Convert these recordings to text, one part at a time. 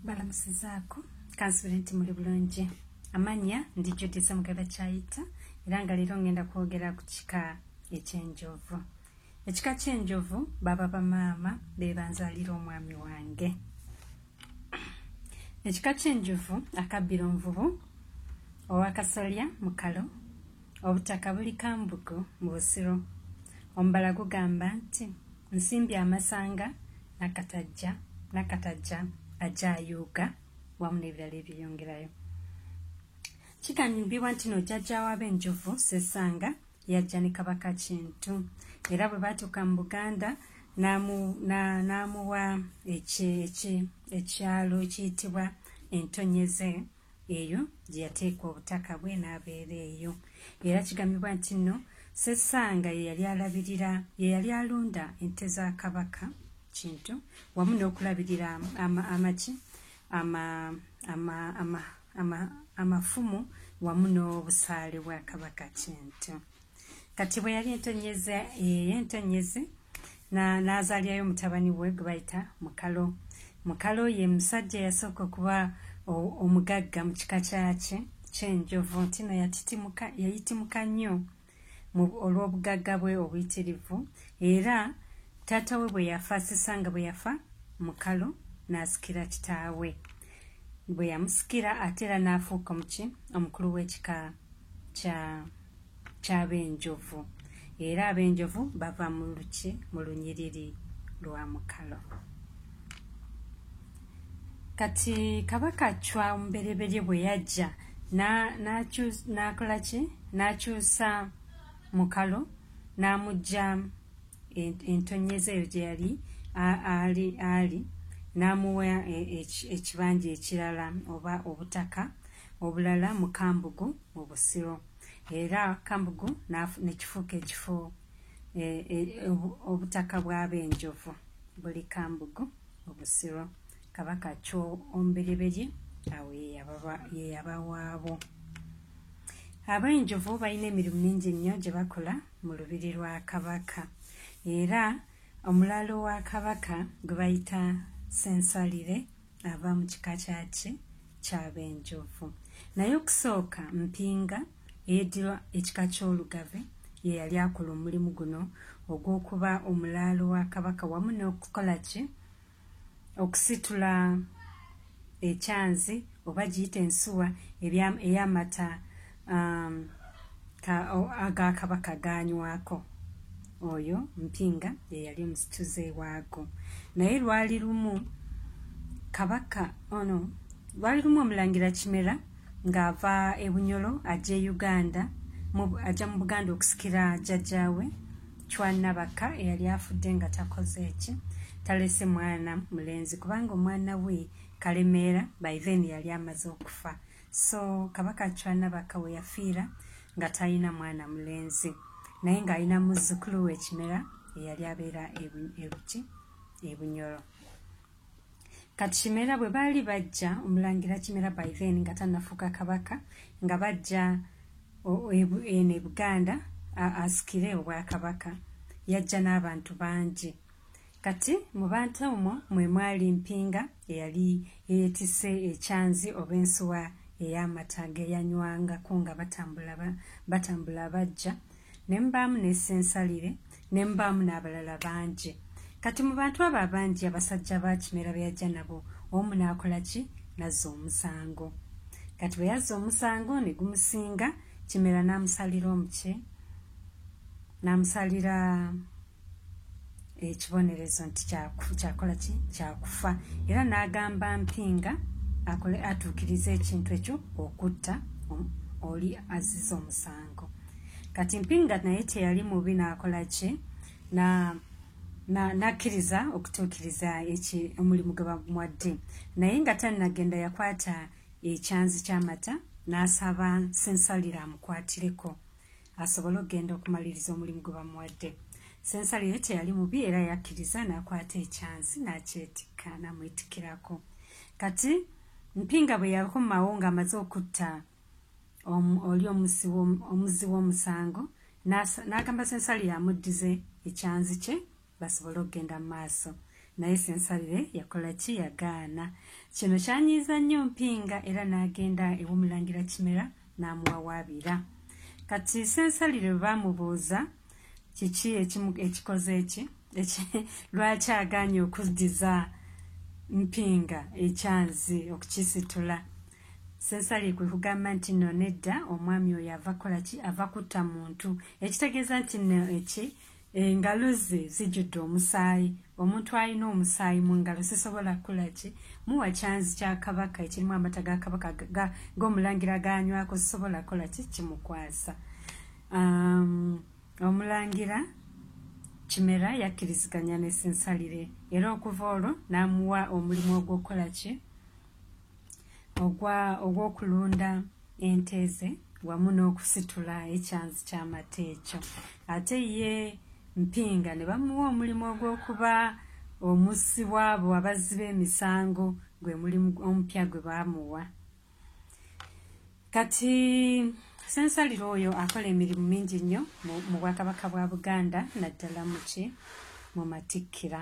balamusizaako kansubire nti muli bulungi amanya ndi judisa mugaba kyayita era nga leero ngenda kwogera ku kika ekyenjovu ekika kyenjovu baba bamaama bebanzalira omwami wange ekika kyenjovu akabbiro nvubu owakasolya mukalo Obutaka buli Kambugu mu Busiro. Omubala gugamba nti Nsimbi Amasanga, Nakatajja, Nakatajja ajja ayuuga wamu n'ebirala ebyeyongerayo. Kigambibwa nti no jjajja w'abenjovu Ssessanga yajja ne Kabaka Kintu era bwe baatuuka mu Buganda n'amuwa ekyalo ekiyitibwa Entonyeze. eyo gye yateeka obutaka bwe n'abeera eyo era kigambibwa nti nno sesanga ye yali alabirira ye yali alunda ente za kabaka kintu wamu n'okulabirira amaki amafumu wamu n'obusaale bwa kabaka kintu kati bwe yali entonnyeze eh, entonnyeze n'azaalyayo mutabani we gwe bayita mukalo mukalo ye musajja eyasooka okuba omugagga mu kika kyakye kyenjovu nti no yayitimuka nnyo olw'obugagga bwe obuyitirivu era taata we bwe yafa sisa nga bwe yafa mukalo n'asikira kitaawe bwe yamusikira ate era n'afuuka omuki omukulu w'ekika kya ky'ab'enjovu era ab'enjovu bava mu luki mu lunyiriri lwa mukalo kati kabaka cwa omubereberye bwe yajja n'akola ki n'akyusa mukalo n'amugya entonyeza eyo gye yali ali ali n'amuwa e, ekibanja ekirala oba obutaka obulala mu Kambugu mu Busiro era Kambugu ne kifuuka ekifo e, e, obutaka bw'ab'enjovu buli Kambugu mu Busiro Kabaka Kyombereberye awo ye yabawaabo. Ab'enjovu balina emirimu mingi nnyo gye bakola mu lubiri lwa Kabaka era omulaalo wa Kabaka gwe bayita Ssensalire ava mu kika kyaki kyabenjovu naye okusooka mpinga eyedirwa ekika kyolugave ye yali akola omulimu guno ogw'okuba omulaalo wa kabaka wamu n'okukola ki okusitula ekyanzi oba giyita ensuwa ey'amata um, agakabaka ganywako oyo mpinga yeyali omusituze waago naye lwali lumu kabaka ono oh lwali lumu omulangira kimera ng'ava ebunyolo ajja e uganda ajja mu buganda okusikira jajjawe cwanabaka eyali afudde nga takoze eki talese mwana mulenzi kubanga omwana we kalemeera by then yali amaze okufa so kabaka acwa nabaka we yafiira nga talina mwana mulenzi naye ng'alina muzzukulu we ekimera eyali abeera ebuki ebunyoro kati kimera bwe baali bajja omulangira kimera by then nga tanafuuka kabaka nga bajja eno ebuganda asikire obwakabaka yajja n'abantu bangi Kati mu bantu omwo mwe mwali Mpinga eyali yeetisse ekyanzi oba ensuwa ey'amata ge yanywangako nga batambula batambula bajja, ne mubaamu ne Ssensalire, ne mubaamu n'abalala bangi. Kati mu bantu abo abangi abasajja ba Kimera be yajja nabo, omu n'akola ki? N'azza omusango. Kati bwe yazza omusango ne gumusinga, Kimera n'amusalira omuki? N'amusalira ekibonerezo nti kyakola ki kyakufa era n'agamba mpinga akole atuukirize ekintu ekyo okutta oli aziza omusango kati mpinga naye teyali mubi n'akola ki na nakkiriza na okutuukiriza omulimu gwe bamuwadde naye nga tannagenda yakwata ekyanzi ky'amata n'asaba sensalira amukwatireko asobole okugenda okumaliriza omulimu gwe bamuwadde sensale ye teyali mubi era yakkiriza n'akwata ekyansi n'akyetikka n'amwetikirako kati mpinga bwe yakomawo ng'amaze okutta oli omuzzi w'omusango n'agamba sensale yamuddize ekyanzi kye basobole okugenda mu maaso naye sensabire yakola ki yagaana kino kyanyiiza nnyo mpinga era n'agenda ew'omulangira kimera n'amuwawaabira kati sensalire bwe baamubuuza kiki ekikoze eki lwaki agaanye okuddiza mpinga ekyanzi okukisitula sensali kwe kugamba nti no nedda omwami oyo ava kola ki ava kutta muntu ekitegeeza nti no eki engalo ze zijjudde omusaayi omuntu alina omusaayi mu ngalo sisobola kukola ki muwa kyanzi kya kabaka ekirimu amata ga kabaka g'omulangira ganywako sisobola kukola ki kimukwasa um, omulangira kimera yakkiriziganya nesinsalire era okuva olwo n'amuwa omulimu ogw'okukola ki ogw'okulunda ogwa ente ze wamu n'okusitula ekyanzi ky'amata ekyo ate ye mpinga ne bamuwa omulimu ogw'okuba omussi waabo abazzi b'emisango gwe mulimu omupya gwe baamuwa kati sensaliro oyo akola emirimu mingi nnyo mu bwakabaka bwa buganda naddala muki mu matikkira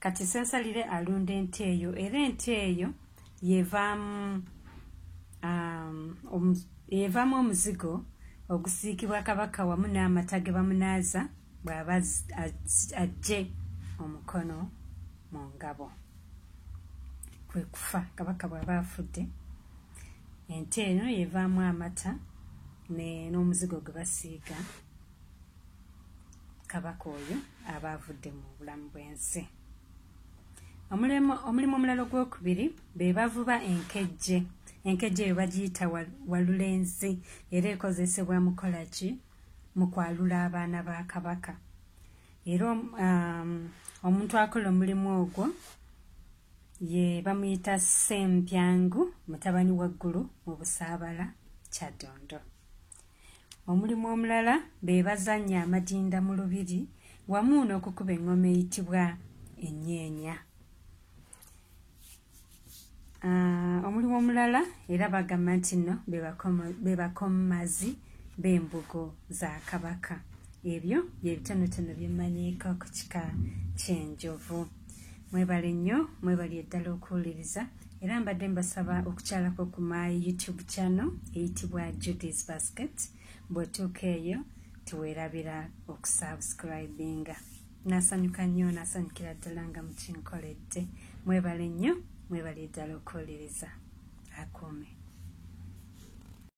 kati sensalire alunda ente eyo era ente eyo yevaamu um, yevaamu omuzigo ogusiikibwa kabaka wamu n'amata ge bamunaaza bw'aba ajje omukono mu ngabo kwe kufa kabaka bw'aba afudde ente eno yevaamu amata n'omuzigo gwe basiiga kabaka oyo aba avudde mu bulamu bw'ensi omulimu omulala ogwokubiri be bavuba enkejje enkejje eyo bagiyita walulenzi era ekozesebwa mu kola ki mu kwalula abaana ba kabaka era um, omuntu akola omulimu ogwo ye bamuyita sempyangu mutabani waggulu mu busaabala kyadondo Omulimu omulala be bazannya amadinda mu lubiri wamu n'okukuba eŋŋoma eyitibwa ennyeenya. Ah, omulimu omulala era bagamba nti nno be bakommazi b'embugo za kabaka. Ebyo bye bitonotono bye mmanyiiko ku kika ky'enjovu. Mwebale nnyo, mwebali eddala okuwuliriza. era mbadde mbasaba okukyalako ku my youtube channel eyitibwa judis basket bwetuuka eyo tuwerabira okusubscribinga nasanyuka nnyo nasanyukira ddala nga mukinkoledde mwebale nnyo mwebale ddala okuwuliriza akuume